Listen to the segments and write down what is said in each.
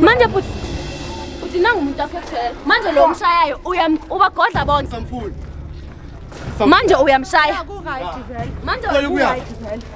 manje bhuti bhuti nangu umuntu aphethele manje lo mshayayo ubagodla bonke manje uyamshaya manje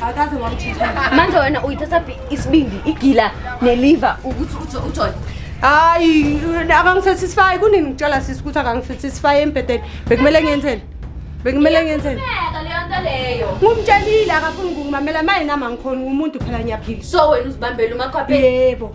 akaze wamthitha manje wena uyithatha phi isibindi igila neliver ukuthi ujo ujole hayi akangisatisfy kunini ngitshela sisi ukuthi akangisatisfy embhedeni bekumele ngenzeni bekumele ngenzeni Iyaqhubeka leyo nto leyo ngumtshelile akafuni ukungimamela maye nami angikhoni ngumuntu phela ngiyaphila so wena uzibambela umakhwapheni yebo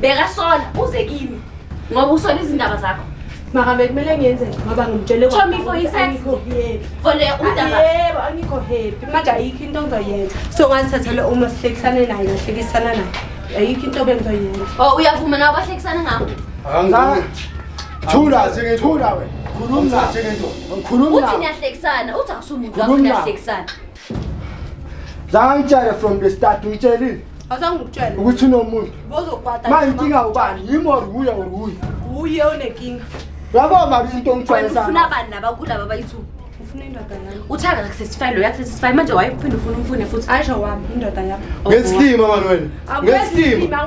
bekasola uze kimi ngoba usola izindaba zakho maka bekumele ngenze ngoba ngimtshele yebo angikho happy manje ayikho into engizoyenza so ngazithathela uma sihlekisane naye ngahlekisana naye ayikho into bengizoyenza o oh, uyavuma nabo bahlekisana ngabo thula thula wena khuluma nje ngento ngikhuluma uthi niyahlekisana uthi akusumuntu wakho niyahlekisana zangitshele from the start uyitshelile awusangikutshela ukuthi unomuntu bozokwata ma inkinga ubani yimi or wuye or wuye wuye onenkinga yabo mali into ongitshwayesafuna bani laba kulaba bayithuba uthanda kusesify lo yakusesify manje wayephinde ufuna umfune futhi asho wami indoda yami ngesilima mani wena ngesilima